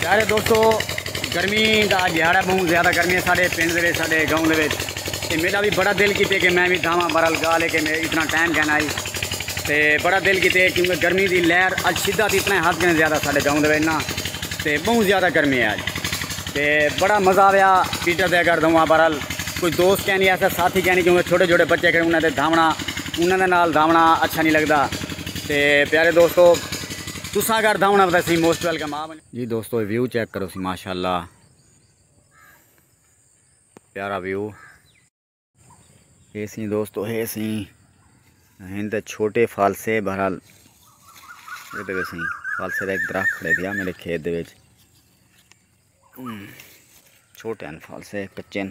پیارے دوستو گرمی دا جہاڑا بہوں زیادہ گرمی ہے ساڑھے پنڈ دے ساڑھے گاؤں دے تے میرا بھی بڑا دل کیتے کہ میں بھی دھاواں برال گا لے کے میں اتنا ٹائم کہنا آئی تے بڑا دل کیتے کیونکہ گرمی دی لہر اج شدہ تھی اتنا حد کہنے زیادہ ساڑھے گاؤں دے نا تے بہوں زیادہ گرمی ہے آج تے بڑا مزہ آیا پیٹر دے گھر دھواں برال کوئی دوست کہنی نہیں ایسا ساتھی کہنی کیونکہ چھوٹے چھوٹے بچے کہیں انہیں دھاونا انہیں دے نال دھاونا اچھا نہیں لگتا تے پیارے دوستو تساں اگر دھاونا بتا سی موسٹ ویلکم آ جی دوستو ویو چیک کرو سی ماشاءاللہ پیارا ویو ہے سی دوستو ہے سی ہن تے چھوٹے فالسے بہرحال اے تے سی فالسے دا ایک درخت کھڑے دیا میرے کھیت دے وچ چھوٹے ہیں فالسے کچے ہیں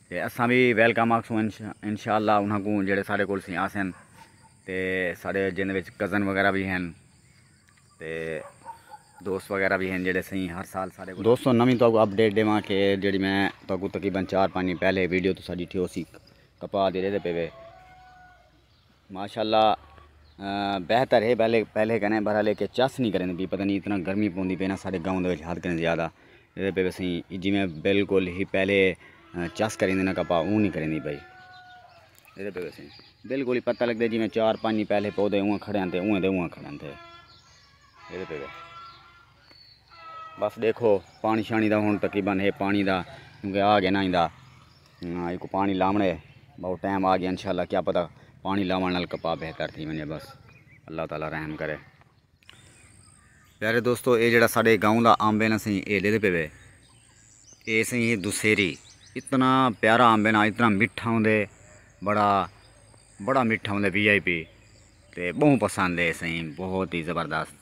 تے اساں وی ویلکم آکھسوں انشاءاللہ انہاں کوں جیڑھے ساڈے کول سی آسن تے ساڈے جیندے وچ کزن وغیرہ وی ہن تے دوست وغیرہ وی ہن جیڑھے سئیں ہر سال ساڈے کول دوستو نویں تہاکوں اپڈیٹ ڈیواں کہ جیڑھی میں تہاکوں تقریبا چار پنج دن پہلے ویڈیو تساں ڈٹھی ہوسی کپاہ دی ریہدے پے وے ماشاءاللہ بہتر ہے پہلے پہلے کنے بھرا لے کے چس نہیں کریں بھی پتہ نہیں اتنا گرمی پوندی پے نا ساڈے گاؤں دے وچ حد کریں زیادہ اے پے وسیں ای جیویں بالکل ہی پہلے چس کریں دے نا کپا اوں نہیں کریں دی پئی اے پے وسیں بالکل ہی پتہ لگدے جیویں چار پانچ پہلے پودے اوں کھڑے ہن تے اوں دے اوں کھڑے ہن تے اے پے بس ݙیکھو پاݨی شاݨی دا ہݨ تقریبا ہے پاݨی دا کیونکہ آ گئے نا ایندا ایکو پاݨی لاوݨ ہے بہت ٹائم آ گیا انشاء اللہ کیا پتہ پاݨی لاوݨ نال کپاہ بہتر تھی ونڄے بس اللہ تعالی رحم کرے پیارے دوستو اے جڑا ساڈے گاؤں دا آمب ہے نا سائیں اے ݙیندے پے وے اے سائیں ہے دوسیری اتنا پیارا آمب ہے نا اتنا مٹھا ہوندے بڑا بڑا مٹھا ہوندے وی آئی پی تے بہوں پسند ہے سائیں بہت ہی زبردست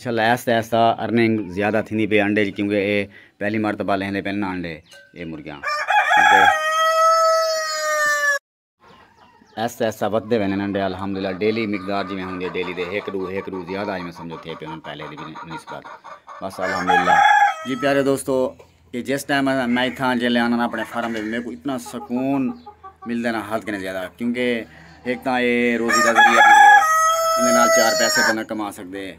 چھل آہستہ آہستہ ارننگ زیادہ تھیندی پئی انڈے دی کیونکہ اے پہلی مرتبہ لیندے پن نا انڈے اے مرغیاں آہستہ آہستہ ودھدے ویندے انڈے الحمدللہ ڈیلی مقدار جویں ہوندی ہے ڈیلی دے ہک ڈو ہک ڈو زیادہ جویں سمجھو تھے پے ہن پہلے دی نسبت بس الحمدللہ جی پیارے دوستو کہ جس ٹائم میں اتھاں جیلے آنا نا اپنے فارم دے میرے کو اتنا سکون ملدا نا حد کنے زیادہ کیونکہ ایک تاں اے روزی دا ذریعہ بھی ہے اندے نال چار پیسے بندہ کما سکدے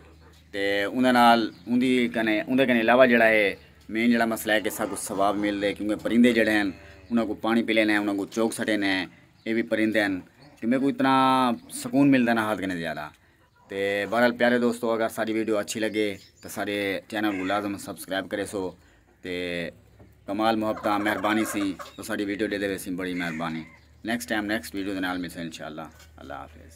تے اندے نال اندی کنے اندے کنے علاوہ جیڑا ہے مین جیڑا مسئلہ ہے کہ ساکو ثواب ملدے کیونکہ پرندے جیڑے ہیں انہاں کو پانی پلے نے انہاں کو چوگ سٹے نے اے بھی پرندے ہیں کہ میرے کو اتنا سکون ملدا نا حد کنے زیادہ تے بہرحال پیارے دوستو اگر ساری ویڈیو اچھی لگے تو سارے چینل کو لازم سبسکرائب کرے سو تے کمال محبت مہربانی سی تو ساری ویڈیو دے دے سی بڑی مہربانی نیکسٹ ٹائم نیکسٹ ویڈیو دے نال ملسے انشاءاللہ اللہ حافظ